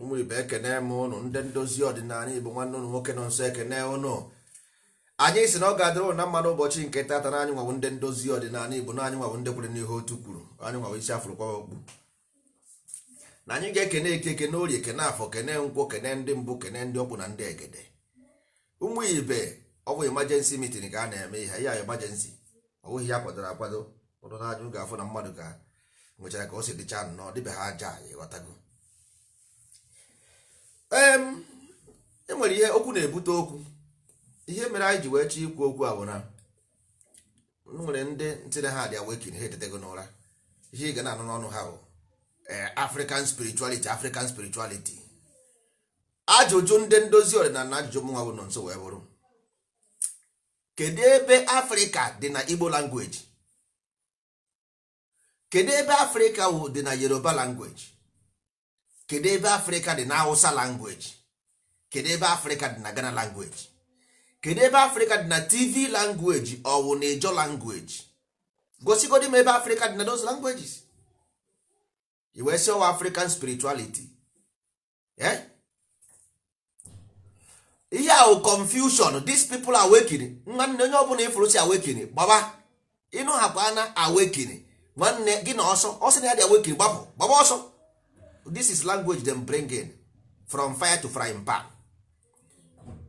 ụmụ ibe ekene m ụnụ ndị ndozi ọdịnala igbo nwanne ụnụ nwoke Nọnso ekene ụnụ anyị sị na ọ ga-adịrị ụnụ na mma n'ụbọchị nke tata na anyị nwawo ndị ndozi ọdịnala igbo na anyị nwawo ndị kwere n'ihe otu kwuru anyị nwawo isi a fụrụ kwawa okpu na anyị ga-ekene eke kene orie kene afọ kene nkwọ kene ndị mbụ kene ndị ọkpụ na ndị egede ụmụ ibe ọ bụ emergency meeting ka a na-eme ihe a emergency ọ bụghị ihe a kwadoro akwado ụrụ na-ajụ ga-afụ na mmadụ ka nwechara ka o si dịcha nọ dịbe ha aja ị ghọtago e nwere ihe okwu na-ebute okwu ihe mere anyị ji wee chọọ ikwu okwu a bụ na e nwere ndị sị na ha dị awakening ha etetego n'ụra ihe ị ga na-anụ n'ọnụ ha bụ eh, African spirituality African spirituality ajụjụ ndị ndozi ọdịnala na ajụjụ mụnwa bụ Nọnso wee bụrụ kedu ebe afrịka dị na igbo language kedu ebe afrịka dị na yoruba language kedu ebe afrịka dị na hausa language kedu ebe afrịka dị na ghana language kedu ebe afrịka dị na tiv language ọ wụ na ijaw language gosigodi m ebe afrịka dị na those languages i wee sị ọ wụ african spirituality eh? ihe a wụ confusion these people awakening nwanne onye ọbụla ị fụrụ sị awakening gbaba ị nụ ha kwa na awakening nwanne gị na ọsọ ọ sị na ya dị awakening gbapụ gbaba ọsọ this is language them bring in from fire to frying pan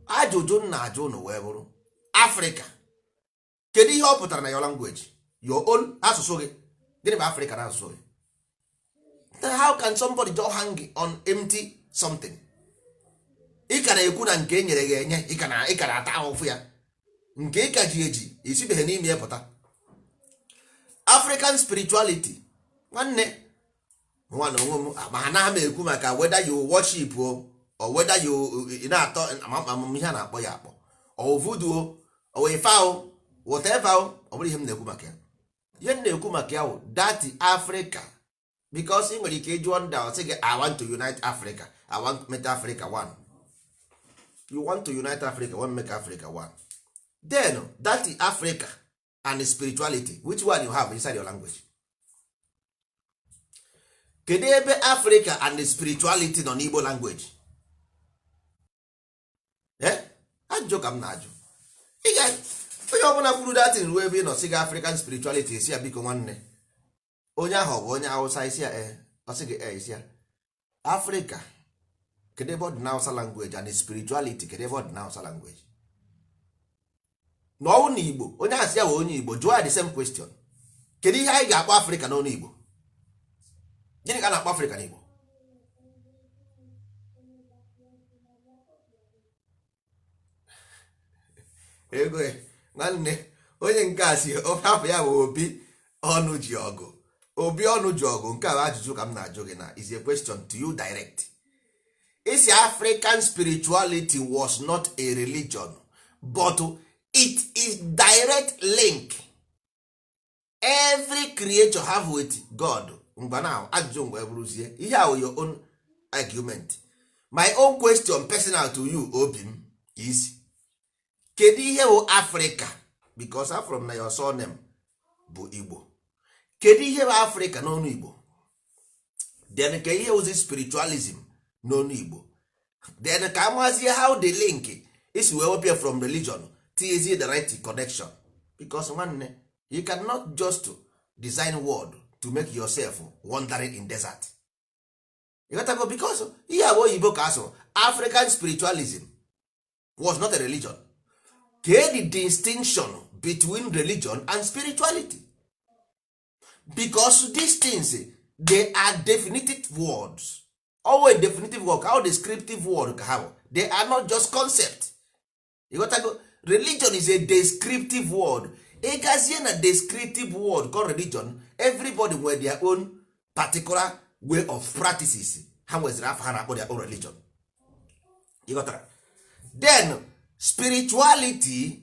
ajụjụ m na-ajụ ụnụ wee bụrụ afrịka kedu ihe ọ pụtara na your language your own asụsụ gị gịnị bụ Africa na asụsụ gị then how can somebody just hang on empty something ị ka na-ekwu na nke e nyere gị enye ị ka na-ata ahụfụ ya nke ị ka ji eji i sibeghị n'ime ya pụta African spirituality nwanne nwanne onwe m ma anaghị m ekwu maka whether you worship o or whether you na-atọ ama m ihe a na-akpọ ya akpọ ọ wụ voodoo o ọ wụ ife ahụ whatever o ọ bụrọ ihe m na-ekwu maka ya ihe m na-ekwu maka ya wụ that afrịka because ị nwere ike ịjụọ ndị ọ sị gị i want to unite africa i want make africa one you want to unite africa want make africa one then that africa and spirituality which one you have inside your language kedu ebe africa and spirituality nọ n'igbo language eh? ajụjụ ka m na-ajụ onye ọbụla kwuru that thing ruo ebe ị nọ sị gị african spirituality sị ya biko nwanne onye ahụ bụ onye awụsa ị sị ya ee ọ sị gị ee ị sị ya afrịka kedu ebe ọ dị na awụsa language and spirituality kedu ebe ọ dị na awụsa language na ọ wụ na igbo onye ahụ sị ya bụ onye igbo jụọ ya the same question kedu ihe anyị ga-akpọ afrịka n'ọnụ igbo gịnị ka a na-akpọ afrịka n'igbo ego nwanne onye nke a si hapụ ya bụ obi ọnụjiọgụ obi ọnụjiọgụ nke a bụ ajụjụ ka m na-ajụ gị na is a question to you direct ị sị african spirituality was not a religion but it is direct link every creature have with god ngwa now ajụjụ ngwa ọ bụrụzie ihe a wụ your own argument my own question personal to you obi m is kedu ihe bụ africa because afụrụ m na your surname bụ igbo kedu ihe bụ africa n'ọnụ igbo then ka ihe ozi spiritualism n'onu igbo then ka amazie how the link isi wee wepịa from religion tinyezie the right connection because nwanne you cannot just design world to make yourself wandering in desert ịghọtago because ihe abụ oyibo ka asụrụ african spiritualism was not a religion kee the distinction between religion and spirituality because these things they are definitive words always definitive word how descriptive word ka ha bụ they are not just concept you got to go religion is a descriptive word ịgazie na descriptive word called religion everybody nwere their own particular way of practices ha nweziri afọ ha na-akpọ their own religion ịghọtara then spirituality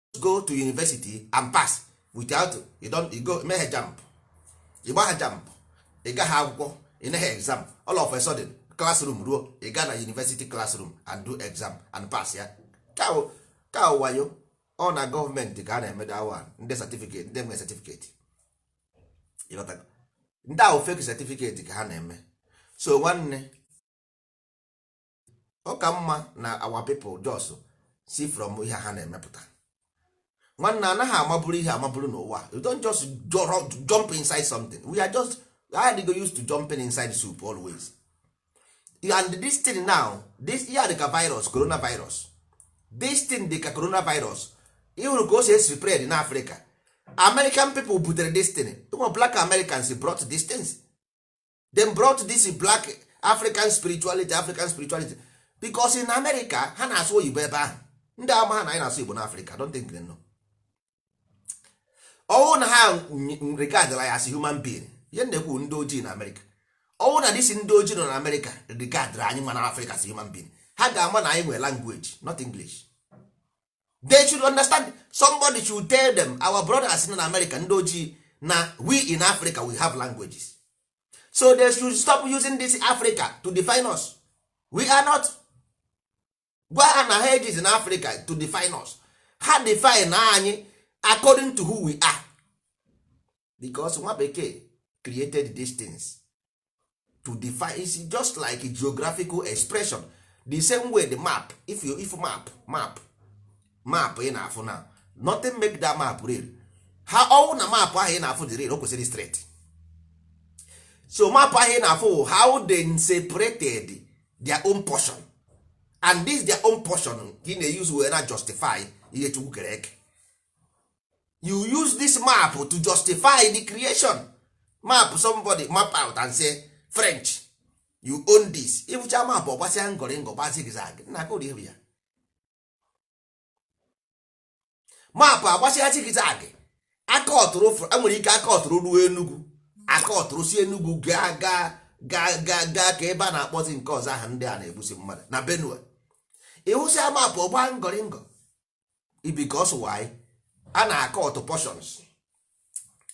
go to university and pass without you don't you go mehe jamb ị gbaha jamb ị gaghị akwụkwọ ị neghị exam all of a sudden classroom ruo ị gaa na university classroom and do exam and pass ya ka wayo ọ na gọọmenti ka a na-eme that one ndị certificate ndị nwe certificate ndị ahụ fake certificate ka ha na-eme so nwanne ọ ka mma na our people just see from ihe ha na-emepụta nwanna anaghị amaburu ihe amaburu n'ụwa you don't just jump inside something we are just I go used to jumping inside soup always and this thing now this ihe dịka virus coronavirus this thing dịka coronavirus ị hụrụ ka o si e-spread in afrịka american people butere this thing ụmụ black americans brought these things they brought this black african spirituality african spirituality because in america ha na-asụ oyibo ebe ahụ ndị amaha na anyị na-asụ igbo na africa don't think they know ọ wụ na ha regardla ya as human being ihe m na-ekwu ndị ojii na america ọ wụ na these ndị ojii nọ na america regardra anyị nwa na africa as human being ha ga-ama na anyị nwere language not english they should understand somebody should tell them our brothers in America ndị ojii na we in Africa we have languages so they should stop using this Africa to define us we are not gwa ha na ha ejizina Africa to define us ha define anyị according to who we are because nwa bekee created these things to define it's just like geographical expression the same way the map if you if map map map ị na-afụ na nothing make that map real ha ọ wụ na map ahụ ị na-afụ dị real o kwesịrị straight so map ahụ ị na-afụ wụ how they separated their own portion and this their own portion ka ị na-use wee na justify ihe chukwu kere eke you use this map to justify the creation map somebody map out and say french you own this ị fụcha map ọ gbasịa ngọrịngọ gba zigzag nna ka ụdị ya map agbasịa zigzag a cutụrụ e nwere ike a cutụrụ ruo enugwu a cutụrụ si enugwu gaa gaa gaa gaa gaa ka ebe a na-akpọzi nke ọzọ aha ndị a na-egbusi mmadụ na benue ị hụsịa map ọ gbaa ngọrịngọ because why a na-cut portions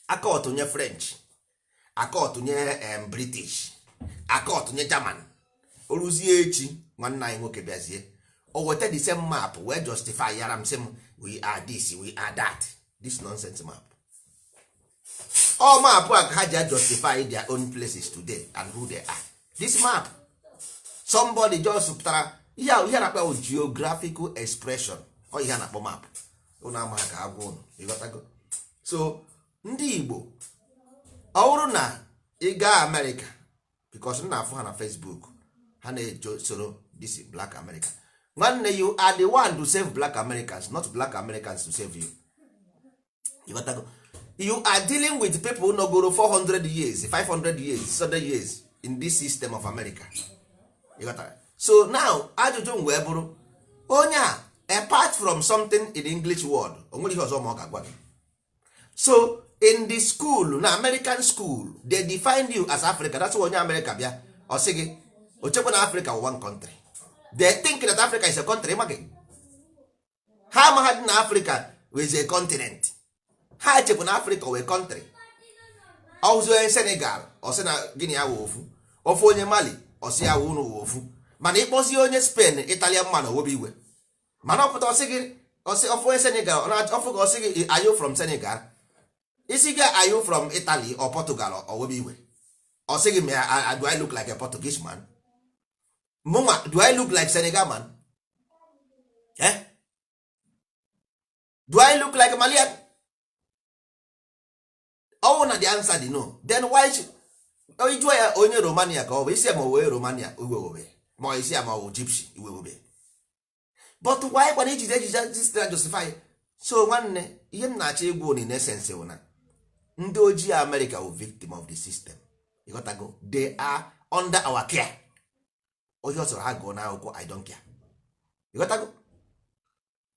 a cut nye french a cut nye british a cut nye german o ruzie echi nwanne anyị nwoke bịazie o weta the same map wee justifyara m sị m we are this we are that this nonsense map all map a ha ji justify their own places today and who they are this map somebody just pụtara ihe a ihe na-akpọ geographical expression ọ ihe a na-akpọ map ụnụ ama ka a gwa ụnụ ị ghọtago so ndị Igbo ọ bụrụ na ị gaa Amerịka because m na-afụ ha na Facebook ha na-eje soro this black America nwanne you are the one to save black Americans not black Americans to save you ị ghọtago you are dealing with people nọgoro 400 years 500 years 600 years in this system of America ị ghọtara so now ajụjụ m wee bụrụ onye a apart from something in the English word o nwere ihe ọzọ ọ ma ọ ga-agwa gị so in the school na American school they define you as Africa that's why onye America bịa ọ sị gị o chekwa na Africa one country they think that Africa is a country imagine ha amaghadị na afrịka is a continent ha chebu na afrịka wụ country ọ fụ onye senegal ọ sị na gị na ya wụ ofu ọ fụ onye mali ọ sị ya wụ unu wụ ofu mana ị kpọzie onye spain italian man o webe iwe mana ọ pụta ọ sị gị ọ sị ọ fụ onye senegal ọ fụ ka ọ sị gị are you from senegal ị sị ya are you from italy or portugal o webe iwe ọ sị gị ma do i look like a portuguese man mụnwa do i look like senegal man eh? do i look like malian ọ wụ na the answer dị no then why should ị jụọ ya onye romania ka ọ bụ ị sị ya ma ọ wụ romania iwe ewebe ma ị sị ya ma ọ wụ gypsy iwe ewebe but why kwanụ ijide ejije jistra justify so nwanne ihe m na-achọ ịgwa unu in essence bụ na ndị ojii America wụ victim of the system ịghọtago they are under our care onye ọ sọrọ ha gụọ n'akwụkwọ I don't care ịghọtago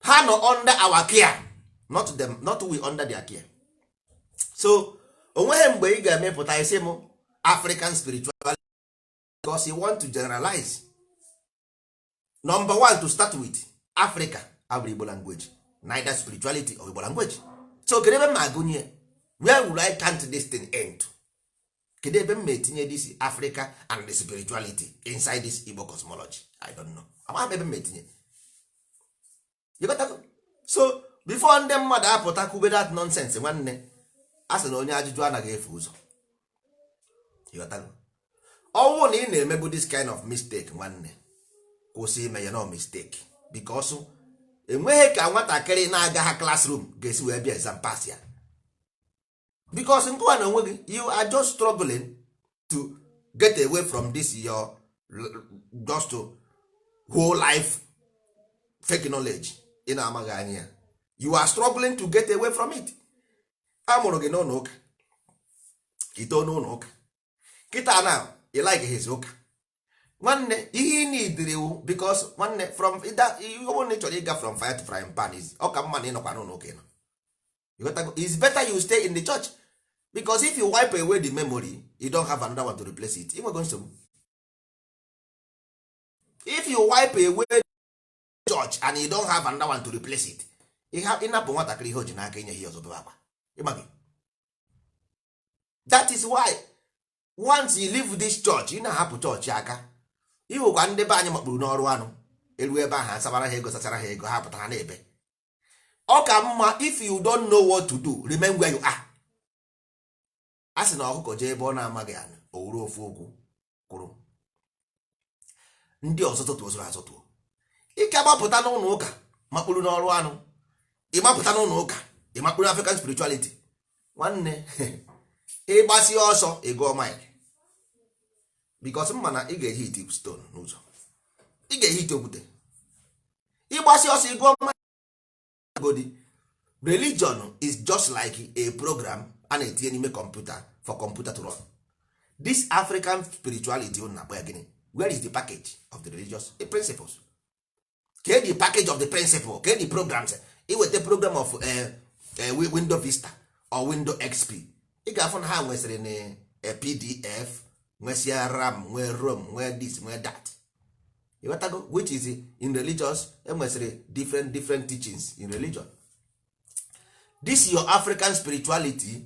ha nọ under our care not them not we under their care so onweghị mgbe ị ga-apụta sị m African spirituality because you want to generalize number one to start with africa abụrụ igbo language neither spirituality or igbo language so kedu ebe m agụnye where will i count this thing end kedu ebe m ma etinye this africa and the spirituality inside this igbo cosmology i don't know amaghị m ebe m ma etinye so before ndị mmadụ apụta kwube that nonsense nwanne a sị na onye ajụjụ anaghị efu ụzọ ọ wụ na ị na-emebu this kind of mistake nwanne kwụsị ime ya no mistake because enweghị ka nwatakịrị na-agaha classroom ga-esi wee bịa exam pass ya because ngịwa n'onwe gị you are just struggling to get away from this your just to whole life fake knowledge ị na-amaghị anya ya you are struggling to get away from it a mụrụ gị n'ụlọ ụka i too n'ụlọ ụka kịta na ị likehịzi ụka nwanne ihe ị na-ediri iwu because nwanne from ịda ihe ọbụla ị chọrọ ịga from fire to frying pan is ọ ka mma na ịnọkwa n'ụlọ ụka ịnọ ịghọtago it's better you stay in the church because if you wipe away the memory you don't have another one to replace it i nwego nsogbu if you wipe away the church and you don't have another one to replace it ị napụ nwatakịrị ihe o ji n'aka i nyehị ihe ọzọ o bebe akwa ịmaghị that is why once you leave this church ị na-ahapụ church aka ị hụkwa ndị be anyị makpuru n'ọrụ anụ e ruo ebe ahụ a sabara ha ego sachara ha ego ha pụta ha na-ebe ọ ka mma if you don't know what to do remain where you are a sị na ọkụkọ jee ebe ọ na-amaghị anya o wuru ofu ụkwụ kwụrụ ndị ọzọ tụtụ o soro ha zọtuo ị ga-agbapụta n'ụlọ ụka makpuru n'ọrụ anụ ị gbapụta n'ụlọ ụka ị makpuru n'African spirituality nwanne ị gbasịa ọsọ ị gụọ mile because m ma na ị ga-ehiti stone n'ụzọ ị ga-ehiti okwute ị gbasịa ọsọ ị gụọ mile godi religion is just like a program a na-etinye n'ime computer for computer to run this african spirituality unu na-akpọ ya gịnị where is the package of the religious principles kee the package of the principle kee the programs i weta program of eh, eh, wi- window vista or window xp ị ga-afụ na ha nwesịrị na eh, pdf nwesịa ram nwee rom nwee this nwee that ịghọtago which is in religious e nwesịrị different different teachings in religion this your african spirituality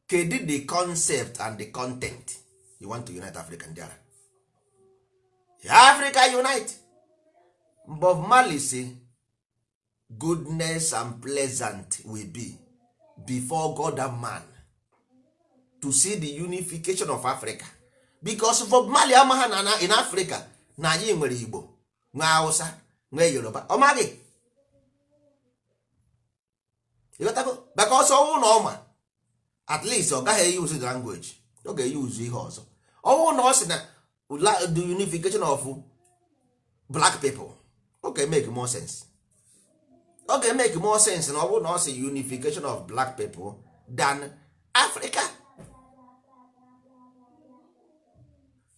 kedu the concept and the content you want to unite africa ndị ara africa unite bob marley sị goodness and pleasant will be before god and man to see the unification of africa because bob marley amaha na in africa na anyị nwere igbo nwee hausa nwee yoruba ọ maghị ịghọtago because ọ wụ na ọ ma at least ọ gaghị e-use language ọ ga-e-use ihe ọzọ ọ wụ na ọ sị na the unification of black people ọ ga-emake more sense ọ ga-emake more sense na ọ bụrụ na ọ sị unification of black people than africa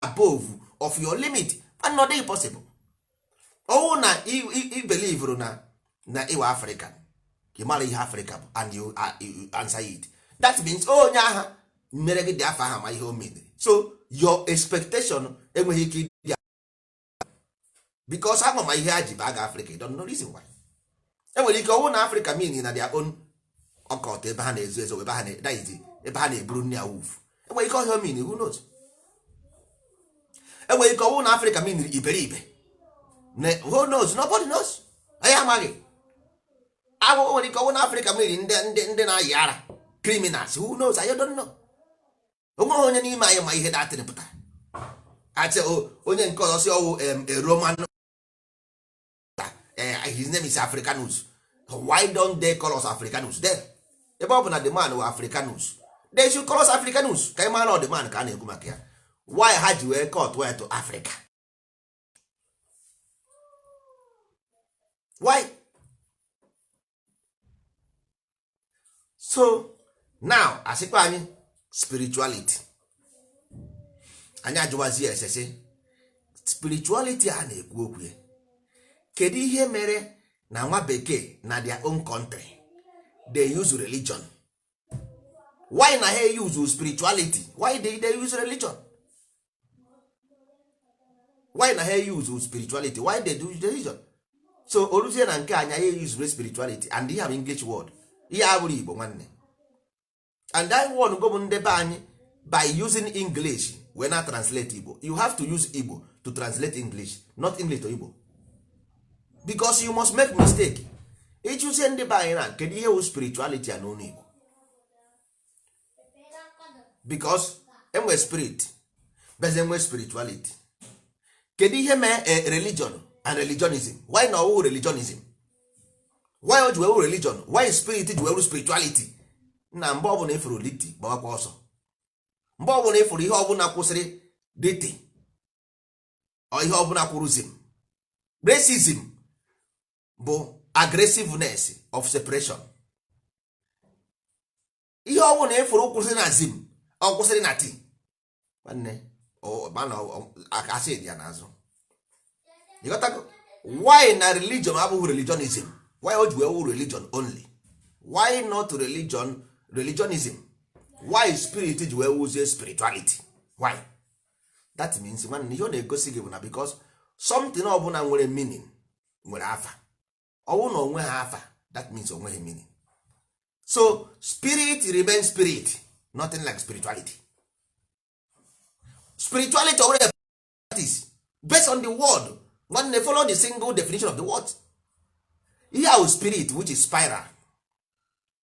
above of your limit and ọ dịghị possible ọ wụ na i believuru na ị wụ african ị mara ihe afrịka bụ and you answer it that means onye aha mere gị dị afọ aha ma ihe o mere so your expectation enweghị ike ịdị because ama ma ihe ha ji baa gị afrịka i don't know reason why enwere ike ọ wụ na afrịka mean na their own ọkọt ebe ha na-ezo ezo ebe ha na-eburu nni awuf enwere ike ọ ihe ọ mean who knows enwere ike ọ wụ na afrịka mean iberibe who knows nobody knows anyị amaghị agwụgwọ nwere ike ọ wụ na afrịka mean ndị na-ayị ara criminals who knows i don't know onweghị onye n'ime anyị ma ihe that thing pụtara ache onye nke ọzọ sị ọ wụ roman eh, his name is africanus why don't they call us africanus then ebe ọ bụ na the man wụ africanus they should call us africanus ka ị mara na ọ the man ka a na-ekwu maka ya why ha ji wee cut ya to africa why so now a sịkwa anyị spirituality anyị ajụwazi esese spirituality a na-ekwu okwu ya kedu ihe mere na nwa bekee na their own country they use religion why na ha use spirituality why they, they use religion why na ha use spirituality why they do religion so o ruzie na nke anyị ha use spirituality and ihe a bụ english word ihe a abụrọ igbo nwanne and e wee ghọgbuo ndị be anyị by using english wee na-translate igbo you have to use igbo to translate english not english to igbo because you must make mistake ịjụzie ndị be anyị na kedu ihe wụ spirituality a n'ọnụ Igbo because enwe spirit beze enwe spirituality kedu ihe mee eh, religion and religionism why na ọwụ religionism why o ji wụrụ religion why spirit ji wụrụ spirituality na mgbe ọbụla ịfụrụ liti gbawakwa ọsọ mgbe ọbụla ịfụrụ ihe ọbụla kwụsịrị liti or ihe ọbụla kwụrụ zim racism bụ aggressiveness of separation ihe ọ bụla ịfụrụ kwụsịrị na zim or kwụsịrị na ti nwanne ma na asị dị ya n'azụ ịghọtago why na religion abụghị religionism why o ji wee wụ religion only why not religion religionism why spirit ji wee wuzie spirituality why that means nwanne ihe ọ na-egosi gị bụ na because something ọbụla nwere meaning nwere afa ọwụ na onweghị afa that means onweghị meaning so spirit remain spirit nothing like spirituality spirituality or whatever it is based on the word nwanne follow the single definition of the word ihe ahụ spirit which is spiral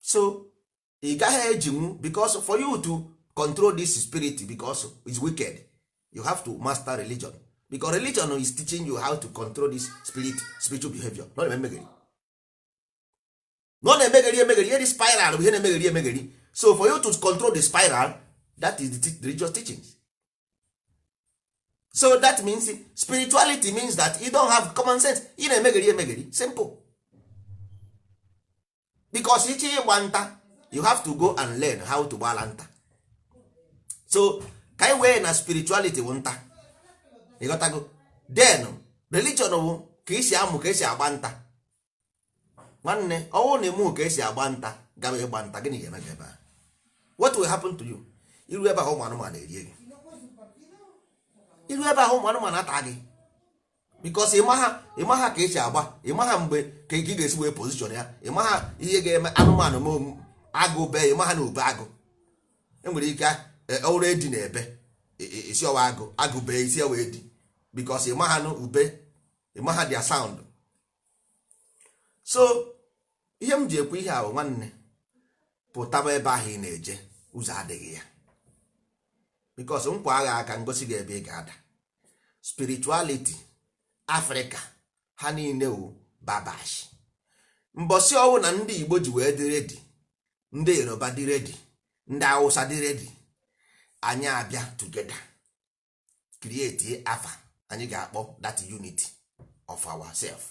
so ị gaghị ejinwu because for you to control this spirit because it's wicked you have to master religion because religion is teaching you how to control this spirit spiritual behavior not emegeri na ọ na-emegheri emegheri ihe dị spiral bụ ihe na-emegheri emegheri so for you to control the spiral that is the religious teachings so that means spirituality means that you don't have common sense ị na-emegheri emegheri simple because ịchọ ịgba nta you have to go and learn how to gbala nta so ka anyị wee na spirituality bụ nta ịghọtago then religion bụ ka isi amụ ka esi agba nta nwanne ọwụrụ na ịmụ ka esi agba nta gaba ịgba nta gịnị ga-eme gị ebe a what will happen to you iru ebe ahụ ụmụ anụmanụ erie gị iru ebe ahụ ụmụ anụmanụ ata gị because ịmaha ịmaha ka esi agba ịmaha mgbe ka ị ga-esi wee position ya ịmaha ihe ga-eme anụmanụ ma agụ bee ịmaha na ube agụ enwere ike e, ọwụrụ edi na-ebe e, e, ịsị ọwụ agụ agụ bee ịsị ọwụ edi because ịmaha na ube ịmaha their sound so ihe m ji ekwu ihe ahụ nwanne pụtaba ebe ahụ ị na-eje ụzọ adịghị ya because m kwaa gị aka m gosi gị ebe ị ga-ada spirituality Africa ha niile wụ babash mbọsị ọwụ na ndị Igbo ji wee dị ready ndị Yoruba dị ready ndị Awụsa dị ready anyị abịa together create afa anyị ga-akpọ that unity of ourself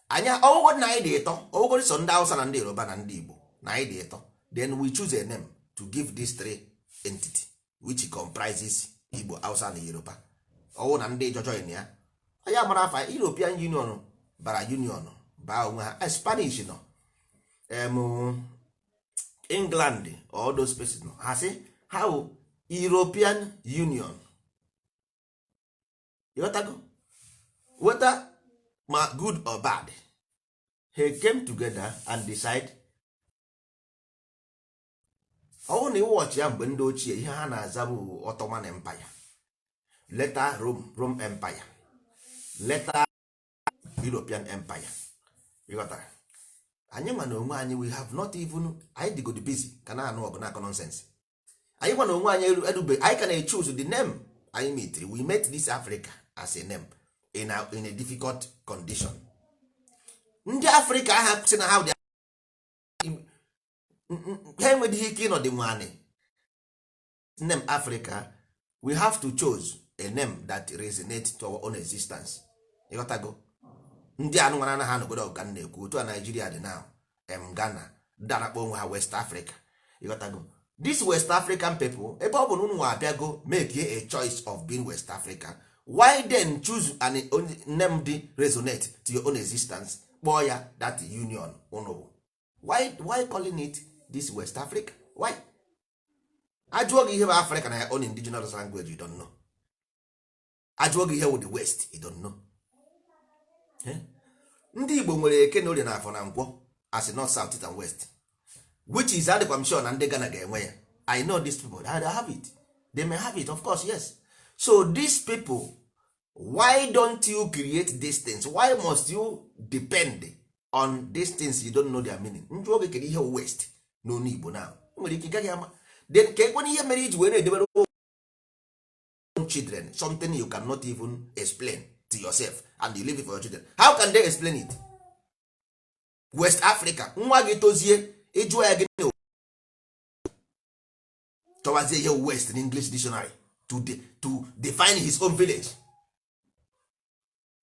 anyị ọwụgodu na anyị dị ịtọ ọwụgodu so ndị Hausa na ndị Yoruba na ndị Igbo na anyị dị ịtọ then we choose a name to give these three entity which comprises Igbo Hausa na Yoruba ọwụ na ndị Ijaw join ya anyị amara afa European Union bara Union baa onwe ha Spanish nọ england all those places nọ ha sị ha bụ european union ịghọtago whether ma good or bad he came together and decide ọ wụ na ị watch ya mgbe ndị ochie ihe ha na-aza bụ ottoman empire later rome rome empire later European Empire ịghọtara anyị nwa na onwe anyị we have not even anyị dịgodi busy ka na-anụ ọgụ na-akọ nonsense anyị nwa na onwe anyị eru erube anyị ka na-echoose the name anyị meetiri we met this Africa as a name in a, in a difficult condition ndị Africa a ha sị na ha dị ha enwedịghị ike ịnọdị nwanị name africa we have to choose a name that resonate to our own existence ịghọtago ndị anụ nwara anaghị anọgodo ọ ga na-ekwu otu a nigeria dị now em ghana ndị a na-akpọ onwe ha west africa ịghọtago this west african people ebe ọ bụ na unu abịago make a choice of being west africa why then choose a name dị resonate to your own existence kpọọ ya that union unu bụ why, why calling it this west africa why a jụọ gị ihe bụ africa na your own indigenous language you don't know a jụọ gị ihe wụ the west you don't know eh? ndị igbo nwere eke na orie na afọ na nkwọ as north south east and west which is adịkwa m sure na ndị Ghana ga-enwe ya I know these people they have it they may have it of course yes so these people why don't you create these things why must you depend on these things you don't know their meaning m jụọ gị kee ihe west n'ọnụ igbo na nwere ike gaghị ama then keekwanụ ihe mere i ji wee na-edebere children something you cannot even explain to yourself and you leave it for your children how can they explain it west africa nwa gị tozie ị jụọ ya gị chọwazie ihe west na english dictionary to, de, to define his own village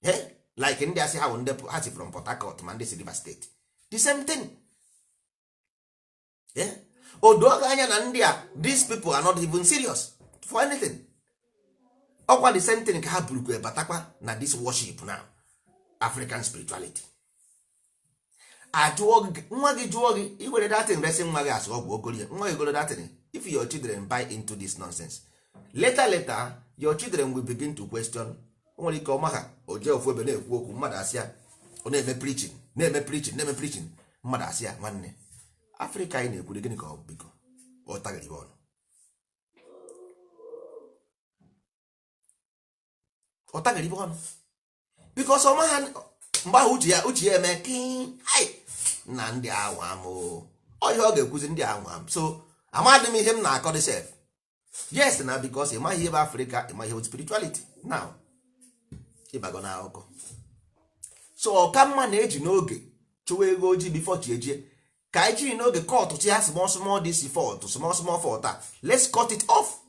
hey? Eh? like ndị a sị ha bụ ndị ha si from port harcourt ma ndị si rivers state the same thing yeah? Eh? o doo gị anya na ndị a these people are not even serious for anything ọ kwa the same thing ka ha burukwa batakwa na this worship now african spirituality a jụọ gị nwa gị jụọ gị i were that thing resị nwa gị asụ ọgwụ o gorie nwa gị goro that thing if your children buy into this nonsense later later your children will begin to question o nwere ike ọma ha o jee ofu ebe na-ekwu okwu mmadụ asị ya ọ na-eme preaching na-eme preaching na-eme preaching mmadụ asị ya nwanne africa anyị na-ekwuri gịnị ka ọ bụ biko ọ taghịrị gị ọnụ ọ taghịrị gị ọnụ because ọ maha mgbe ahụ uche ya uche ya eme na ndị a wụ amo ọ ihe ọ ga-ekwuzi ndị a wụ amosu amadị m ihe m na-akọdị sef yes na because ị maghị ihe bụ afrịka ị maghị ihe bụ spirituality now ị bago na akụkọ so ọ ka mma na e ji n'oge chụwa eghu ojii before chi ejie ka anyị jiri n'oge cutusia small small this fault small small fault a let's cut it off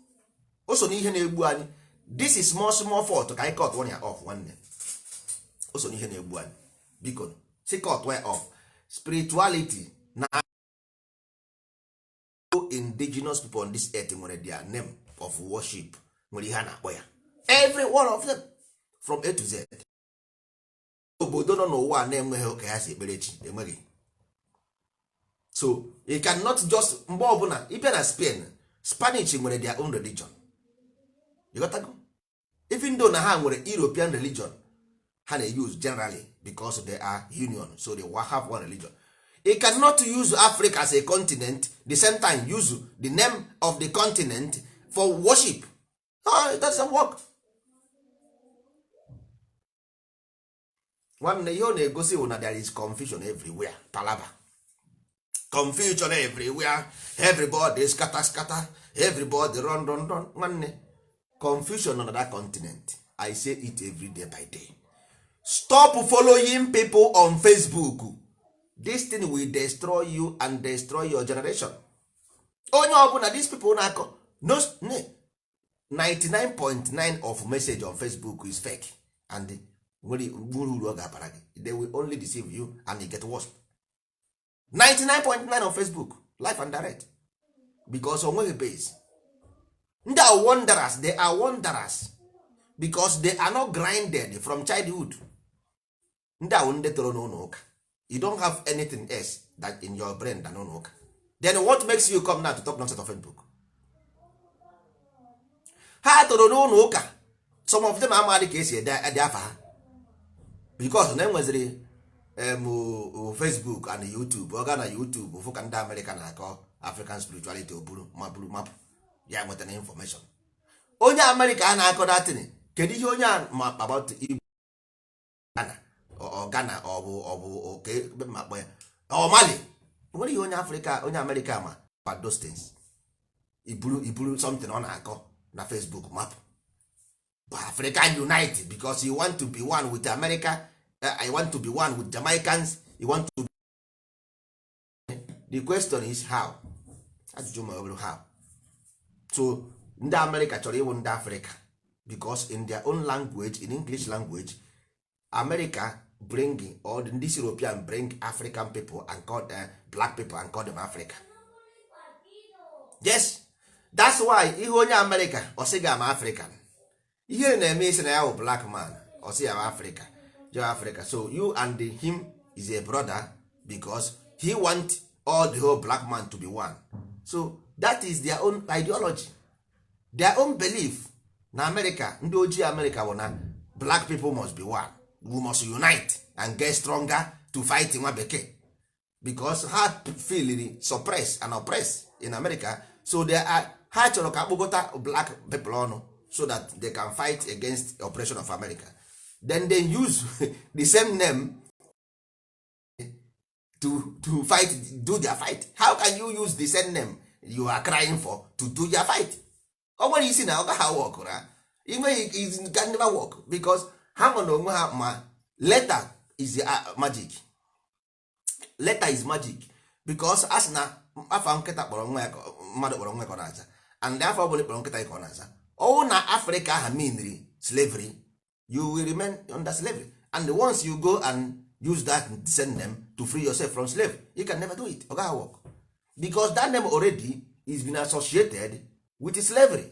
o so n'ihe na-egbu anyị this small small fault ka anyị cutuo ya off nwanne o so n'ihe na-egbu anyị because cut one off spirituality na indigenous people on this earth nwere their name of worship nwere ihe a na-akpọ ya every one of them from A to Z obodo nọ n'ụwa a na-enweghị ụka ya si ekpere chi enweghị so you cannot just mgbe ọbụla ị bịa na Spain Spanish nwere their own religion ị ghọtago even though na ha nwere European religion ha na-use generally because they are union so they have one religion you cannot use Africa as a continent the same time use the name of the continent for worship no, it doesn't work nwanne ihe ọ na-egosi bụ na there is confusion everywhere palaba confusion everywhere everybody scatter scatter everybody run run run nwanne confusion on that continent i say it every day by day stop following people on facebook this thing will destroy you and destroy your generation onye ọbụla these people na-akọ no 99.9 of message on facebook is fake and o nweghị uru ọ ga-abara gị they will only deceive you and it get worse 99.9 on facebook live and direct because o nweghị base they are wanderers they are wanderers because they are not grinded from childhood ndị a wụ ndị toro n'ụlọ ụka you don't have anything else that in your brain than ụlọ ụka then what makes you come now to talk nonsense on Facebook ha toro n'ụlọ ụka some of them amadị ka e si ede afa ha because na e nweziri Facebook and YouTube ọ gaa na YouTube fụ ka ndị Amerịka na-akọ African spirituality o buru ma buru mapụ ya enwetana information onye amerịka a na-akọ that thing kedu ihe onye a ma about Ghana ọ bụ ọ bụ kee ebe m ma-akpọ ya ọ Mali o nwere ihe onye Afrịka onye Amerịka ma about those things i buru i buru something ọ na-akọ na Facebook mapụ bụ African unite because you want to be one with America eh, I want to be one with Jamaicans you want to the question is how ajụjụ m abụrụ how so ndị amerịka chọrọ ịwụ ndị afrịka because in their own language in english language america bring or ndị european bring african people and call, uh, black people and call them africa yes that's why ị hụ onye america ọ sị gị I'm african ihe na-eme ị sị na ya bụ black man ọ sị ya bụ afrịka gị bụ afrịka so you and him is a brother because he want all the whole black man to be one so that is their own ideology their own belief na america ndị ojii america bụ na black people must be one we must unite and get stronger to fight nwa bekee because ha feeliri suppress and oppress in america so they are ha chọrọ ka akpọkọta black people ọnụ so that they can fight against oppression of america then they use the same name to, to fight do their fight how can you use the same name you are crying for to do their fight o nwere ị sị na ọ gaghị work na inweghị it can never work because ha nwa na onwe ha ma letter is uh, magic letter is magic because a sị na afa nkịta kpọrọ nwa ya mmadụ kpọrọ nwa ya ka ọ na-aza and afa ọbụla a kpọrọ nkịta ka ọ na-aza ọ wụ na afrịka aha meanri slavery you will remain under slavery and once you go and use that same name to free yourself from slave you can never do it ọ gaghị work because that name already is been associated with slavery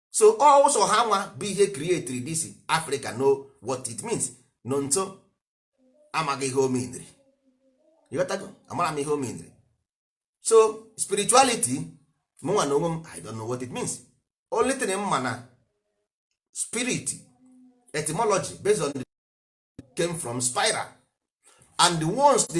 so ọ sọ ha nwa bụ ihe createri this africa know what it means no nso amaghị ihe ọ meanri ịghọtago amara m ihe ọ meanri so spirituality mụnwa na onwe m i don't know what it means only thing m ma na spirit etymology based on the came from spiral and once the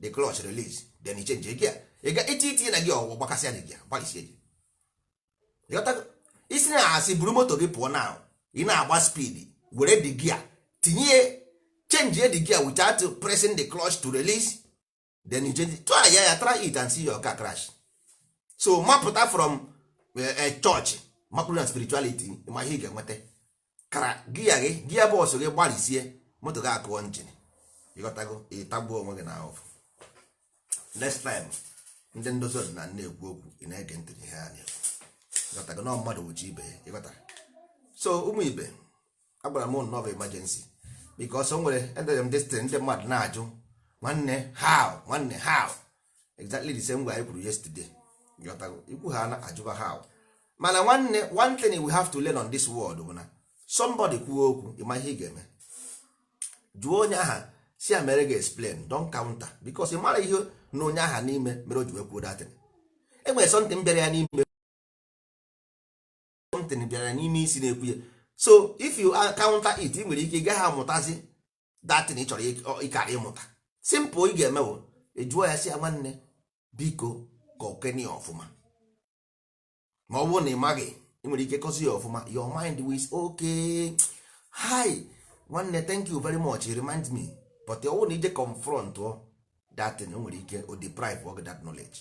the clutch release then you change gear ị ga iti itinye na gear ọ gbakasịa gear gị gbarisie gị Ịghọtago? ị sị na a sị buru moto gị pụọ now ị na-agba speed were the gear tinye change the gear without pressing the clutch to release then you change try ya ya try it and see your car crash so mapụta from eh, eh, church mapụrụ na spirituality ma ihe ị ga-enweta kara gear gị gear box gị gbarisie moto gị akụọ engine ịghọtago ịtagbuo onwe gị na ahụfụ next time ndị ndozi ọdịnala na-ekwu okwu ị na-ege ntị ihe ha na-ekwu ịghọtago na mmadụ wụ chi ibe ya ịghọtara so ụmụ ibe agwara m ụnụ ọ bụ emergency because o nwere edere m this thing ndị mmadụ na-ajụ nwanne how nwanne how exactly the same way anyị kwuru yesterday ị kwuo ha na-ajụba how mana nwanne one thing we have to learn on this world bụ na somebody kwuo okwu ịma ihe ị ga-eme jụọ onye aha sị ya mere gị explain don't counter because ị mara ihe nọ onye aha n'ime mere o ji wee kwuo that thing e nwere something bịara ya n'ime something bịara n'ime isi na-ekwu ya so if you counter it ị nwere ike ị gaghị amụtazi that thing ị chọrọ ịkara ịmụta simple ị ga-eme wụ ịjụ ya sị ya nwanne biko kọkene ọfụma ma ọ bụrụ na ị maghị ị nwere ike kọzie ya ọfụma your mind is okay hi nwanne thank you very much remind me but ọ bụrụ na i jee confront ọ that thing o nwere ike o deprive of that knowledge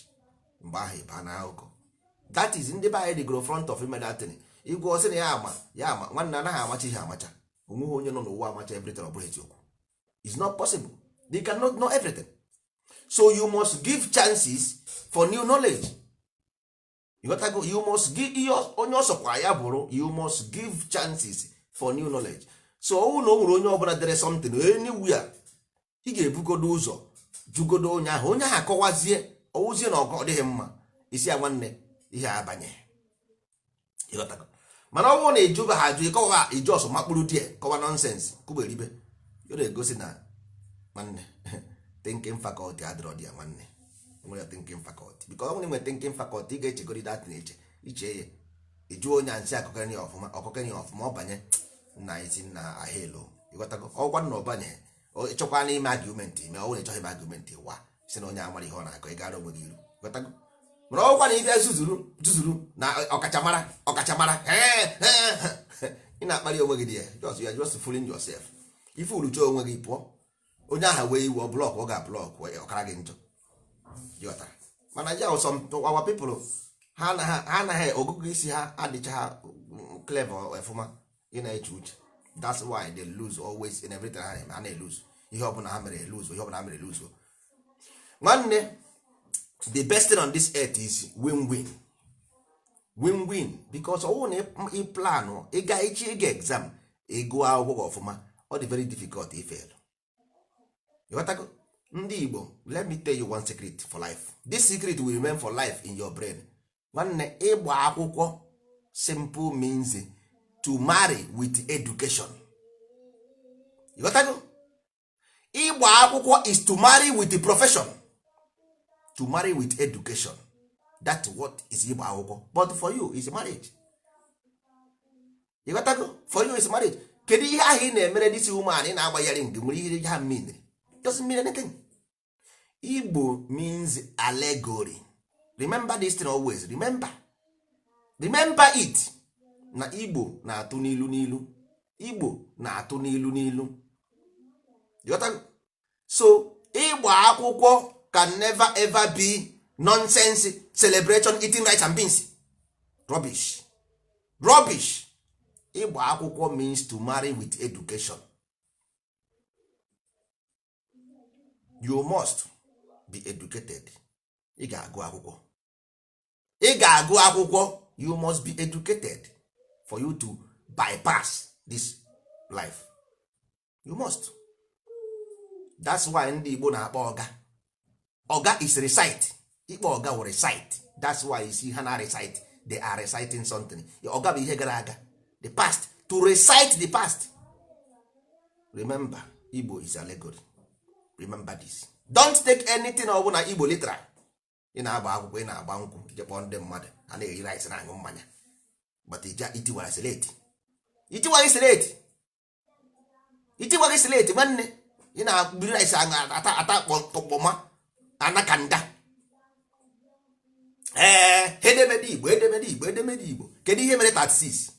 mgbe ahụ ị baa n'akụkọ that is ndị be anyị dịgoro fond of ime that thing ị gwa ọ sị na ya ama ya ama nwanne anaghị amacha ihe amacha onweghị onye nọ n'ụwa amacha everything ọ bụrọ eziokwu is not possible they cannot know everything so you must give chances for new knowledge you got to go you must give ihe ọ- onye ọ sọkwa ya bụrụ you must give chances for new knowledge so ọwụ na o nwere onye ọbụla dere something anywhere ị ga-ebugodo ụzọ jụgodo onye ahụ onye ahụ akọwazie ọwụzie na ọgọ ọ dịghị mma ị sị ya nwanne ihe a abanyerọ ịghọtago mana ọ bụrụ na ị jụbaghị ajụ ị kọwa i je ọsọ makpuru there kọwa nonsense kọ iberibe ọ na-egosi na nwanne thinking faculty adịrọ there nwanne nwere thinking faculty because onye nwere thinking faculty ị ga-echegodi that thing eche i chee ya ị jụọ onye a nsị akụkọrị ya ọfụma ọkụkọrị ya ọfụma ọ banye nna anyị si na ahelo ịghọtago ọkwa na ọ banye ị chọkwanụ ime argument i mee ọ bụrụ ị chọghị ime argument wa sị na onye a amarọ ihe ọ na-akọ ị gara onwe gị iru ịghọtago mana ọwụkwanụ ị bịa zuzuru zuzuru na ọkachamara ọkachamara ee, ee, ị na-akparị onwe gị there just you are just fooling yourself ị foolucha onwe gị pụọ onye ahụ wee iwe ọ block ọ ga block ọ kara gị njọ ịghọtara mana ya ụsọ our people ha anaghị ọgụgụ isi ha adịchaghị clever ọfụma ị na-eche uche that's why they lose always in everything ha na-eme ha na-eluzu ihe ọbụla ha mere eluzu ihe ọbụla ha mere eluzu nwanne the best thing on this earth is win win win win because ọwụ na ị planụ ịga echi ịga exam ị gụọ akwụkwọ gị ọfụma ọ dị very difficult ịfail ịghọtago ndị Igbo let me tell you one secret for life this secret will remain for life in your brain nwanne ịgba akwụkwọ simple means to marry with education ịghọtago ịgba akwụkwọ is to marry with the profession to marry with education that what is ịgba akwụkwọ but for you is marriage ịghọtago for you is marriage kedu ihe ahụ ị na-emere this woman ị na-agba ya ring nwere ihe ha mean doesn't mean anything igbo means allegory remember this thing always remember remember it na igbo na-atụ n'ilu n'ilu igbo na-atụ n'ilu n'ilu so ịgba akwụkwọ can never ever be nonsense celebration eating rice and beans rubbish rubbish ịgba akwụkwọ means to marry with education you must be educated ị ga-agụ akwụkwọ ị ga-agụ akwụkwọ you must be educated for you to bypass this life you must that's why ndị Igbo na-akpọ ọga ọga is recite ịkpọ ọga wụ recite that's why you see ha na recite they are reciting something ọga bụ ihe gara aga the past to recite the past remember igbo is allegory remember this don't take anything ọ bụla igbo literal ị na-agba akwụkwọ ị na-agba nkwụ i jee kpọọ ndị mmadụ a na-eri rice na-aṅụ mmanya but i tiwara slate i tiwara slate i tiwaghị slate nwanne ị na-agbiri rice ata ata kpọmọ na kanda ee edemede igbo edemede igbo edemede igbo kedu ihe mere 36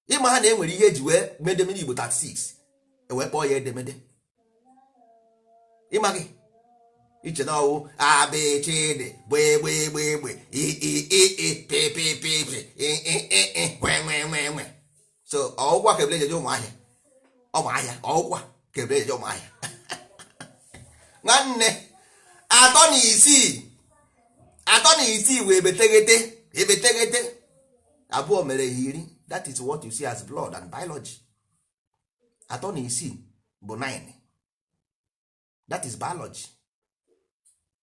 ị maha na e nwere ihe e ji wee mee edemede igbo 36 e wee kpọọ ya edemede ị ma gị iche na ọ wụ abịchịdị gbegbegbegbe iiiipipipipi nwenwenwenwe so ọ wụkwa ka ebule ejeje ụmụ ahịa ụmụ ahịa ọ wụkwa ka ebule ejeje ụmụ ahịa nwanne atọ na isii atọ na isii wee ebeteghete ebeteghete abụọ mere ha iri that is what you see as blood and biology atọ na isii bụ 9 that is biology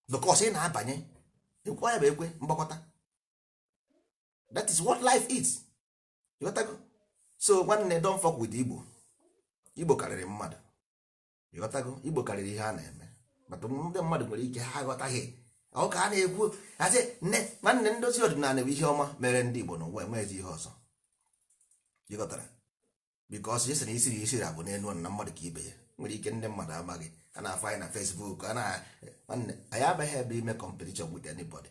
because ị na-abanye ekwe ya bụ ekwe mgbakọta that is what life is ịghọtago so nwanne don't fuck with igbo igbo karịrị mmadụ ịghọtago igbo karịrị ihe a na-eme maka ndị mmadụ nwere ike ha aghọtaghị ọ ka a na-ekwu asị nne nwanne ndozi ọdịnala bụ ihe ọma mere ndị igbo n'ụwa enweghịzi ihe ọzọ ịghọtara because isi na isi ra isi ra bụ n'elu ọnụ na mmadụ ka ibe ya nwere ike ndị mmadụ amaghị a na-afụ anyị na facebook a na-nwanne anyị abịaghị ebe a ime competition with anybody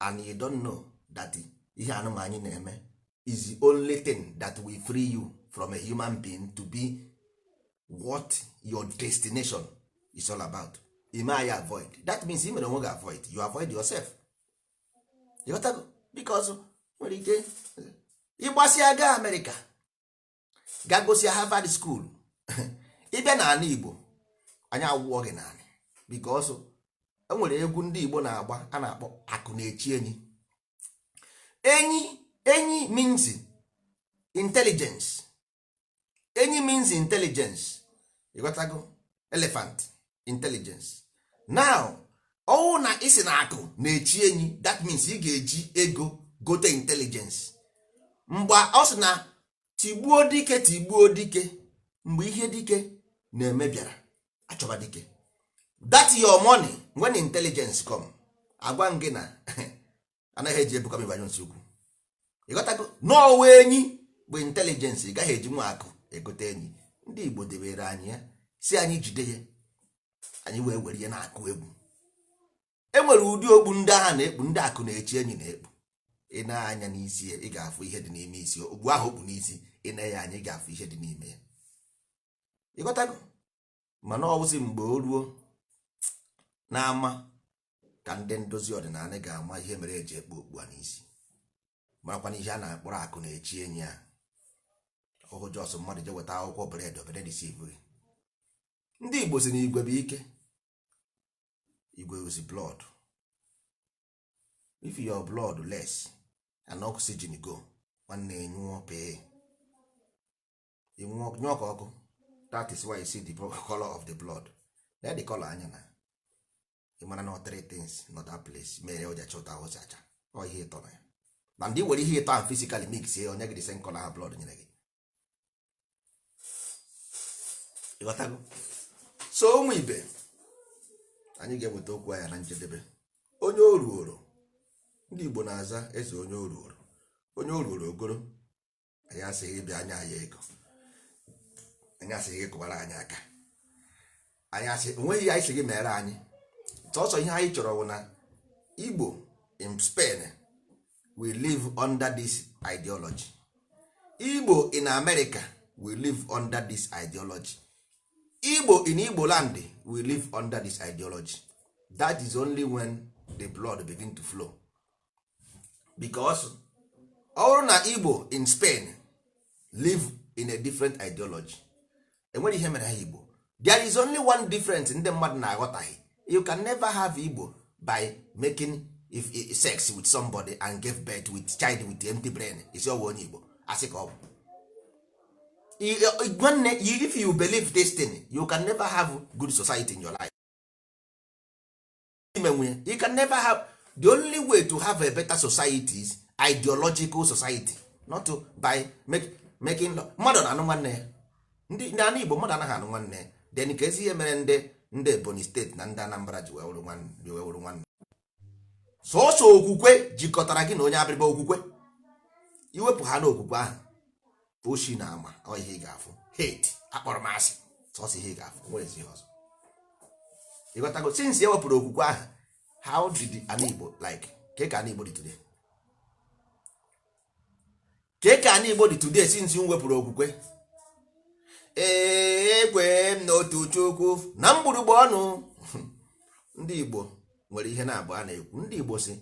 and you don't know that ihe a nụnwa anyị na-eme is the only thing that will free you from a human being to be what your destination is all about i mee anyị avoid that means ị mere onwe gị avoid you avoid yourself ịghọtago because nwere ike ị gbasịa gaa amerịka gagosịa Harvard school ị bịa n'anị Igbo anyị awụọ gị n'anị because e nwere egwu ndị Igbo na-agba a na-akpọ akụ na-echi enyi enyi enyi means intelligence enyi means intelligence ịghọtago elephant intelligence now ọwụ na ị sị na akụ na-echi enyi that means ị ga-eji ego gote intelligence mgbe ọ sị na tigbuo dike tigbuo dike mgbe ihe dike na-eme bịara achọba dike that your money when intelligence come agwa gị na anaghị eji ebuka m ibu anyụ nsị ukwu ịghọtago n'ọwa enyi bụ intelligence ị gaghị ejinwu akụ egote enyi ndị igbo debere anyị ya sị anyị jide ya anyị wee were ya na-akụ egwu e nwere ụdị okpu ndị agha na-ekpu ndị akụ na-echi enyi na-ekpu i nee anya n'isi ya ị ga-afụ ihe dị n'ime isi okpu ahụ o kpu n'isi i nee ya anya ị ga-afụ ihe dị n'ime ya ịghọtago mana ọwụzi mgbe o ruo n'ama ka ndị ndozi ọdịnanị ga-ama ihe mere eji ekpu okpu a n'isi marakwana ihe a na-akpọrọ akụ na-echi enyi a ọhụ just mmadụ je weta akwụkwọ bidobe na-edeceive ndị igbo sị na igwe bụ ike igwe wụzi blood if your blood less and oxygen go nwanne ị nwụọ pee ị nwụọ nyụọ ka ọkụ that is why you see the color of the blood nee the color anya na ị mara na three things nọ that place mere o ji acha otu o si acha ọ ihe ịtọ nọ ya na ndị were ihe ịtọ ahụ physically mix ya o nye gị the same color ahụ blood nyere gị ịghọtago so ụmụ ibe anyị ga-eweta okwu anyị a na njedebe onye oruoro ndị Igbo na-aza eze onye oruoro onye oruoro ogoro anyị asịghị ị bịa nye anyị ego anyị asịghị ị kụbara anyị aka anyị asị o nweghị ihe anyị sị gị meere anyị sọsọ ihe anyị chọrọ bụ na igbo in spain we live under this ideology igbo in america we live under this ideology igbo in igbo land we live under this ideology that is only when the blood begin to flow because ọ bụrụ na igbo in spain live in a different ideology enwere ihe mere ha igbo there is only one difference ndị mmadụ na-aghọtaghị you can never have igbo by making if, if, sex with somebody and give birth with child with empty brain ị sị ọwụ onye igbo asị ka ọ bụ I- I- nwanne you- if you believe this thing you can never have good society in your life ime nwe you can never have the only way to have a better society is ideological society not to by make, making law mmadụ na-anụ nwanne ya ndị ndị ana igbo mmadụ anaghị anụ nwanne ya then kezi ihe mere ndị ndị ebonyi steeti na ndị anambra ji wee wụrụ nwanne ji wee wụrụ nwanne sọsọ okwukwe jikọtara gị na onye abịrịba okwukwe i wepụ ha n'okwukwe ahụ oshi na ama ọ ihe ị ga-afụ hate akpọrọmasị sọsọ ihe ị ga-afụ nwerezi ihe ọzọ ịghọtago since e wepụrụ okwukwe ahụ how did ana igbo like ke ka ana igbo dị today ke ka ana igbo dị today since m wepụrụ okwukwe ee ekwe m n'otu chukwu na mgbụrụgba ọnụ ndị igbo nwere ihe na-abụ a na-ekwu ndị igbo si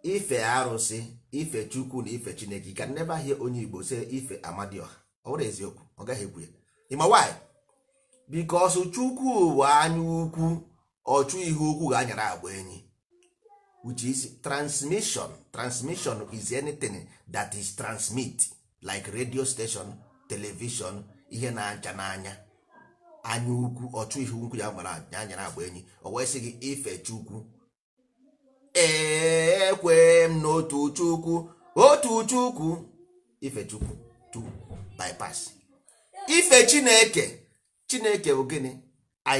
ife arụsị ife chukwu na ife chineke you can never hear onye igbo say ife amadioha ọ bụrụ eziokwu ọ gaghị ekwu ya ịma why because chukwu bụ anya ukwu ọchụ ihe ukwu ga-anyara agba enyi which is transmission transmission is anything that is transmit like radio station television ihe na-acha n'anya anya ukwu ọchụ ihe ukwu ya gbara anyara agba enyi o wee sị gị ife chukwu ekwe m n'otu chukwu otu chukwu ife chukwu to bypass ife chineke chineke bụ gịnị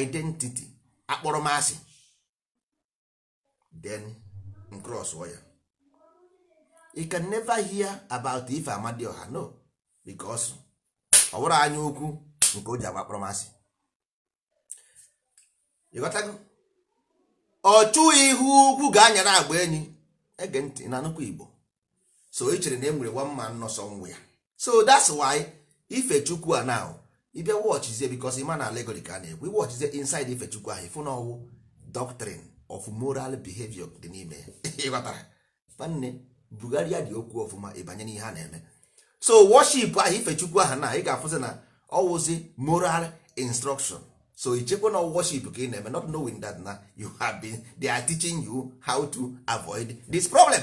identity akpọrọmasị then cross ya you can never hear about ife amadioha no because ọ wụrọ anya ukwu nke o ji awụ akpọrọmasị ịghọtago ọchụ ihe ukwu ga-anyara agba enyi ege ntị na-anụkwa igbo so ị chere na e nwere one man nọ somewhere so that's why ife chukwu a now ị bịa watchizie because ịma na allegory ka a na-ekwu i watchizie inside ife chukwu ahụ ịfụ na ọwụ doctrine of moral behavior dị n'ime ya. ịghọtara nwanne bugharịa dị okwu ọfụma ịbanye n'ihe a na-eme so worship ahụ ife chukwu ahụ na ị ga-afụzi na ọwụzi moral instruction so i chekwa na worship ka ị na-eme not knowing that na you have been they are teaching you how to avoid this problem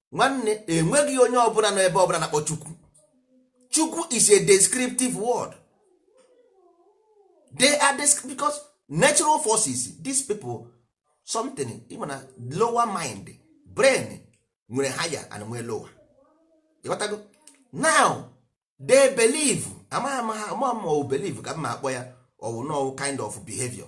nwanne enweghị onye ọbụla nọ ebe ọbụla na-akpọ chukwu chukwu is a descriptive word they are because natural forces these people something in a lower mind brain nwere higher and nwere lower ịghọtago now they believe amaghị amaghị amaghị ma ọ believe ka m ma akpọ ya ọwụ na ọwụ kind of behavior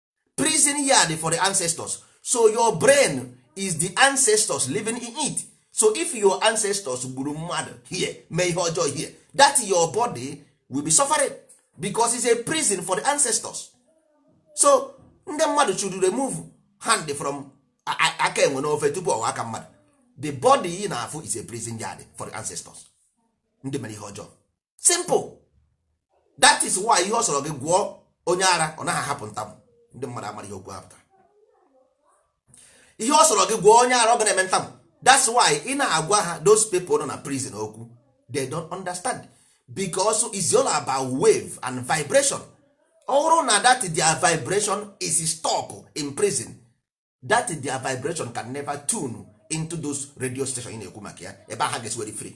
prison yard for the ancestors so your brain is the ancestors living in it so if your ancestors gburu mmadụ here mee ihe ọjọọ here that your body will be suffering because it's a prison for the ancestors so ndị mmadụ should remove hand from aka enwe n'ofe tupu ọ ghọọ aka mmadụ the body ị na-afụ is a prison yard for the ancestors ndị mere ihe ọjọọ simple that is why ihe ọ sọrọ gị gwọọ onye ara ọ naghị ahapụ ntamụ ndị mmadụ amara ihe okwu a pụtara ihe ọ sọrọ gị gwọọ onye ara ọ ga na-eme ntamụ that's why ị na-agwa ha those people nọ na prison okwu they don't understand because it's all about wave and vibration ọ bụrụ na that their vibration is stuck in prison that their vibration can never tune into those radio station ị na-ekwu maka ya ebe a ha ga-esi were free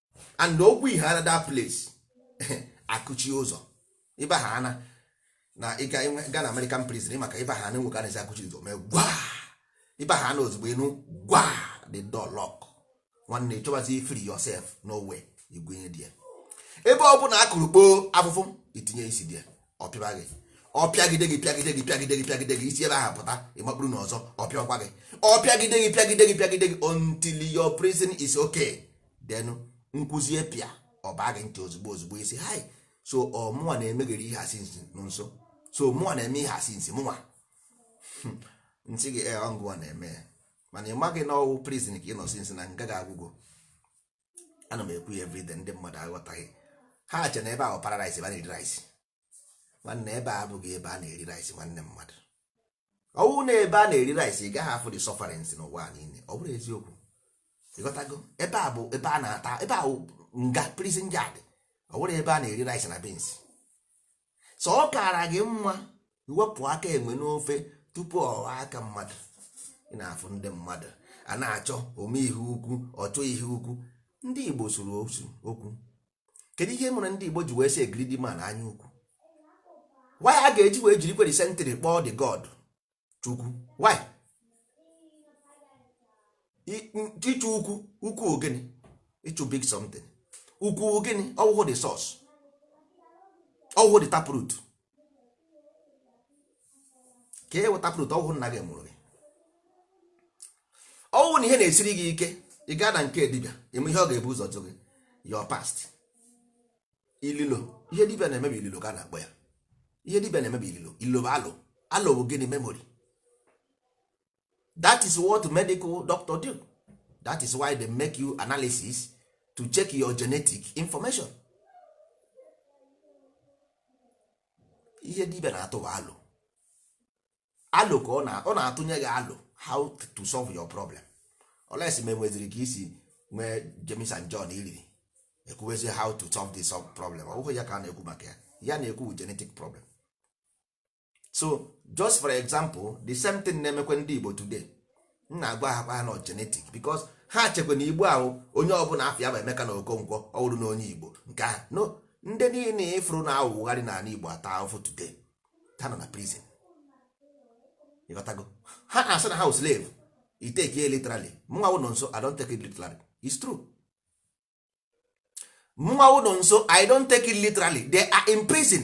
and okwu ihe ara that place akụchi ụzọ ịba ha ana na ị gaa na American prison maka ịba ha ana nwoke anaghị akụchi ụzọ mee gwa ịba ha ana ozugbo ị nụ gwa the door lock nwanne chọbazi free yourself no way igwenye dị ya ebe ọ bụla akụrụ kpoo afụfụ i tinye isi there ọ pịba gị ọ pịagide gị pịagide gị pịagide gị pịagide gị isi ebe ahụ pụta ị makpuru na ọzọ ọ pịakwa gị ọ pịagide gị pịagide gị pịagide gị until your prison is okay then m kwuzie pịa ọ baa gị ntị ozugbo ozugbo ị sị hai so ọ mụnwa na-emeghere ihe a since nọ nso so mụnwa na-eme ihe a since mụnwa m sị gị ee ọ ngịwa na-eme ya mana ị maghị na ọ wụ prison ka ị nọ since na nga gị agwụgo ana m ekwu ya everyday ndị mmadụ aghọtaghị ha che na ebe a wụ paradise ebe a na-eri rice nwanne ebe a abụghị ebe a na-eri rice nwanne mmadụ ọ wụ na ebe a na-eri rice ị gaghị afụ the sufferings n'ụwa niile ọ bụrụ eziokwu ị ghọtago ebe a bụ ebe a na-ata ebe a wụ nga prison yard ọ bụrọ ebe a na-eri rice na beans so ọ kaara gị mma iwepụ aka enwe n'ofe tupu ọ ghọọ aka mmadụ ị na-afụ ndị mmadụ a na-achọ ome ihe ukwu ọchọ ihe ukwu ndị Igbo sụrụ okwu kedu ihe mere ndị Igbo ji wee sị a greedy man anya ukwu why a ga-eji wee jiri kwere sentịrị kpọọ the god Chukwu why ịchụ ukwu ukwu gịnị ịchụ big something ukwu gịnị ọ wụhụ the source ọ wụhụ the taproot kee wụ taproot ọ wụhụ nna gị mụrụ gị ọ wụhụ na ihe na-esiri gị ike ị gaa na nke dibịa ime ihe ọ ga-ebu ụzọ jụ gị your past ililo ihe dibịa na-eme bụ ililo ka a na-akpọ ya ihe dibịa na-eme bụ ililo ililo bụ alo alo bụ gịnị memory that is what medical doctor do that is why they make you analysis to check your genetic information ihe dibia na-atụ bụ alo alo ka ọ na-atụnye gị alo how to solve your problem unless ma e nweziri ka i si nwee James and John iriri ekwuwezi how to solve this problem ọ bụghị ya ka a na-ekwu maka ya a na-ekwu genetic problem so just for example the same thing na-emekwe ndị igbo today m na-agwa ha kwa ha na ọ genetic because ha chekwa na igbo a wụ onye ọbụla afa ya bụ emeka na okonkwo ọ bụrụ na onye igbo nke ahụ no ndị niile ị fụrụ na-awagharị n'ala igbo ata ahụfụ today ha nọ na prison ị ghọtago ha na-asị na ha wụ slave i take ya literally mụnwa wụ nọnso i don't take it literally it's true mụnwa wụ nọnso i don't take it literally they are in prison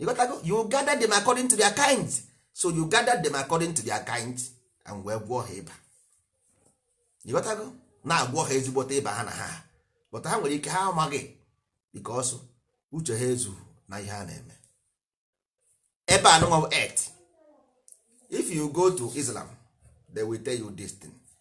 ị ghọtago you gather them according to their kind so you gather them according to their kind and wee gwọọ ha ịba ị ghọtago na-agwọ ha ezigbote ịba ha na ha but ha nwere ike ha amaghị because uche ha ezu na ihe a na-eme ebe anụnwa earth if you go to islam they will tell you this thing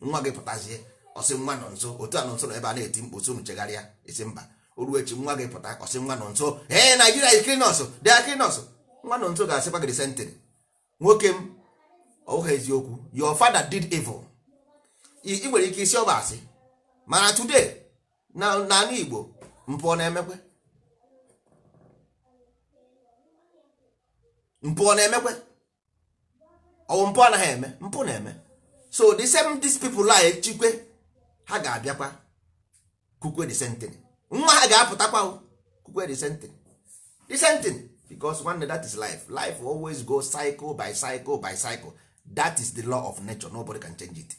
nwa gị pụtazie ọ sị nwa nọnso otu a nọnso nọ ebe a na-eti mkpu so unu chegharịa ị sị mba o ruo echi nwa gị pụta ọ sị nwa nọnso ee nigeria is killing us they are killing us nwa nọnso ga-asịkwa gị sentịrị nwoke m ọ wụghị eziokwu your father did evil ị ị nwere ike ịsị ọ bụ asị mana today na n'ala igbo mpụ ọ na-emekwe mpụ ọ na-emekwe ọ wụ mpụ anaghị eme mpụ na-eme so the same these people a echikwe ha ga-abịakwa kwukwe the same thing nwa ha ga-apụtakwa kwukwe the same thing the same thing because nwanne that is life life always go cycle by cycle by cycle that is the law of nature nobody can change it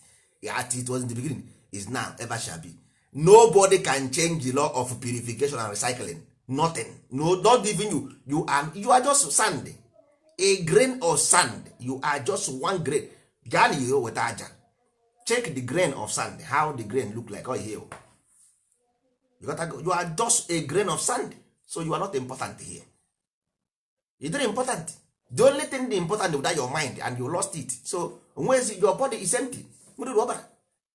as it was in the beginning is now ever shall be nobody can change the law of purification and recycling nothing no not even you you are, you are just sand a grain of sand you are just one grain gaa na ihe weta aja check the grain of sand how the grain look like oh, ihe you, you are just a grain of sand so you are not important here you didn't important the only thing the important without your mind and you lost it so onwezi your body is empty mmiri ọbara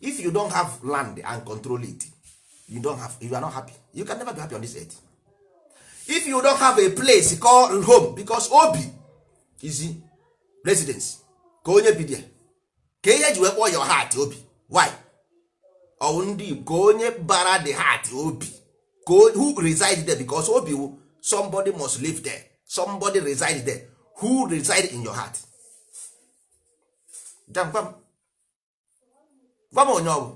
if you don't have land and control it you don't have you are not happy you can never be happy on this earth if you don't have a place called home because obi is residence ka onye bi there ka ihe ji wee kpọọ your heart obi why ọwụ ndị ka onye bara the heart obi ka who reside there because obi wu somebody must live there somebody reside there who reside in your heart gwa m onye ọ bụ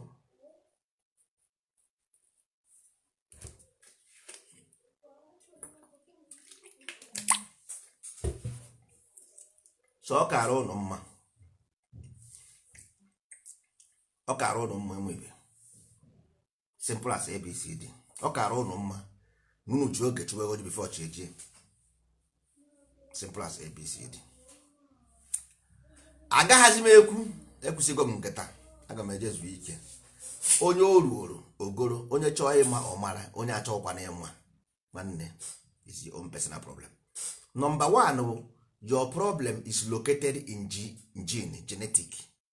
so ọ kara ụnụ mma ọ kara ụnụ mma enwebe simple as abcd ọ kara ụnụ mma n'unu ji oge chụwa eghu oji before chi ejie simple as abcd agaghazi m ekwu ekwusigo m nke taa aga m eje zuo ike onye o ruoro o goro onye chọọ ịma ọ mara onye achọghịkwana ịma nwanne is your own personal problem number one your problem is located in ge- gene genetic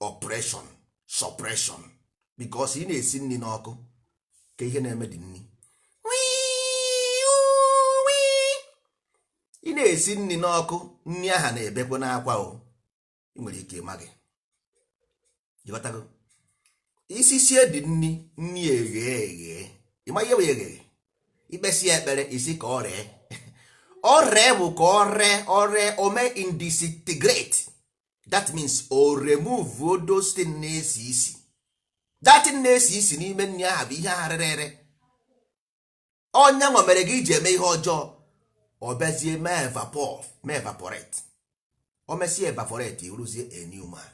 oppression suppression because ị na-esi nri n'ọkụ ka ihe na-eme the nri ị na-esi nri n'ọkụ nri aha na-ebekwanụ akwa o ị nwere ike ịmaghị ịghọtago i sisie the nri nri eghe eghe ịma ihe bụ eghe i kpesie ekpere ị sị ka ọ ree ọ ree bụ ka ọ ree ọ ree o mee disintegrate that means o remove those things na-esi isi that thing na-esi isi n'ime nri ahụ bụ ihe ahụ rere ere ọ nya nwa mere gị iji eme ihe ọjọọ ọ bịazie mee evapor mee evaporate o mesie evaporate ị wụrụzie a new man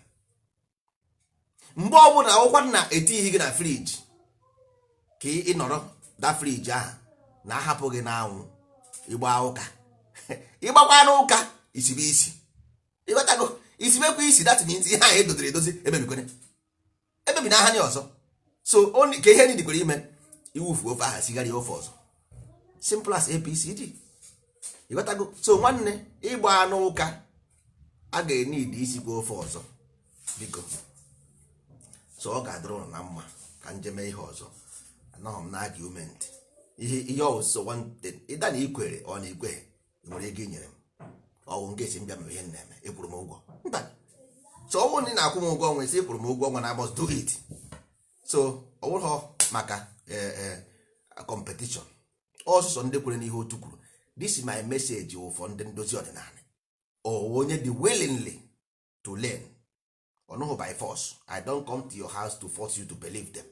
mgbe ọbụla ọ wụkwanụ na etighi gị na friji ka ị nọrọ da friji a na-ahapụ gị n'anwụ ị gbaa ụka ị gbakwanụ ụka i sibe isi ịghọtago i sibekwa isi that means ihe ahụ edoziri edozi emebikwere emebi na aha nye ọzọ so only ka ihe ndị kwere ime i wufuo ofe aha sigharịa ofe ọzọ simple as ABCD ịghọtago so nwanne ị gbaanụ ụka a ga-need isikwa ofe ọzọ biko so ọ ga-adịrị ụnụ na mma ka m je mee ihe ọzọ anọghị m na argument ihe ihe ọ wụ sọ one thing either na i kwere or na i kweghị nwere ego i nyere m ọ wụ nke a sị m bịa mebe ihe m na-eme a kwụrụ m ụgwọ mba so ọ wụrọ na ị na-akwụ m ụgwọ ọnwa a sị ị kwụrụ m ụgwọ ọnwa na I must do it so ọ wụrọ maka eh, eh, competition ọ wụ sọ ndị kwere n'ihe otu kwuru this is my message wụ for ndị ndozi ọdịnala onye dị willingly to learn ọnụhụ by force i don come to your house to force you to believe them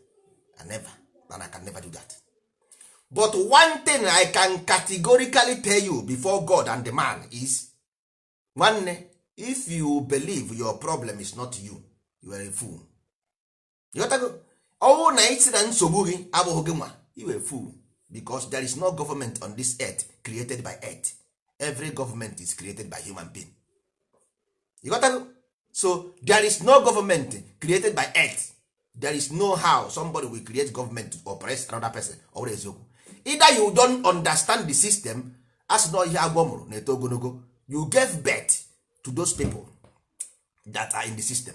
i never and i can never do that but one thing i can categorically tell you before god and the man is nwanne if you believe your problem is not you you are a fool ịghọtago ọ wụ na ị sị na nsogbu gị abụghị gị nwa ị wụ a fool because there is no government on this earth created by earth every government is created by human being ịghọtago so there is no government created by earth there is no how somebody will create government to oppress another person ọ bụrọ eziokwu either you don't understand the system as na ihe agwọ mụrụ na-eto ogologo you gave birth to those people that are in the system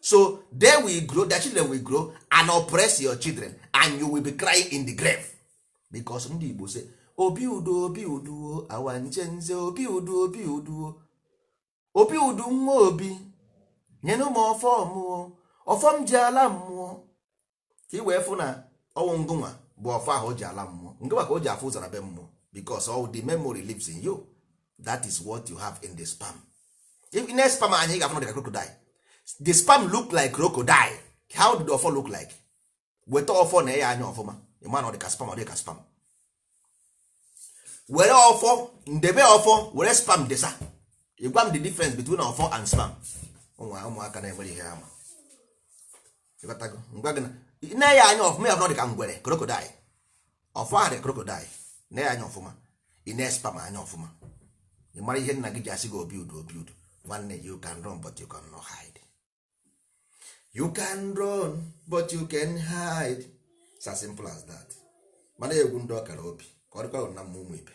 so they will grow their children will grow and oppress your children and you will be crying in the grave because ndị Igbo say obi udo obi uduo awa nche nze obi udo obi uduo obi udu nwa obi nyenụ m ọfọ mụ o ọfọ m ji ala mmụọ ka i wee fụ na ọ wụ ngụnwa bụ ọfọ ahụ o ji ala mmụọ ngụnwa ka o ji afụ ụzọ ala be mmụọ because all the memory lives in you that is what you have in the sperm if i nee sperm anya ị ga-afụ na ọ dịka crocodile the sperm look like crocodile how did ọfọ look like weta ọfọ nee ya anya ọfụma ị ma na ọ dịka sperm ọ dịka sperm were ọfọ ndebe ọfọ were sperm desa ị gwa m the difference between ọfọ and sperm ụmụaka na-enwere ihe ama ngwa gị na nee ya anya ọfụma ya dị ka ngwere crocodile ọfọ ahụ dị crocodile nee ya anya ọfụma i nee sperm anya ọfụma ị mara ihe nna gị ji asị gị obi udo obi udo nwanne you can run but you can not hide you can run but you can't hide it's as simple as that mana egwu ndị ọkara obi ka ọ dịkwa na mma ụmụ ibe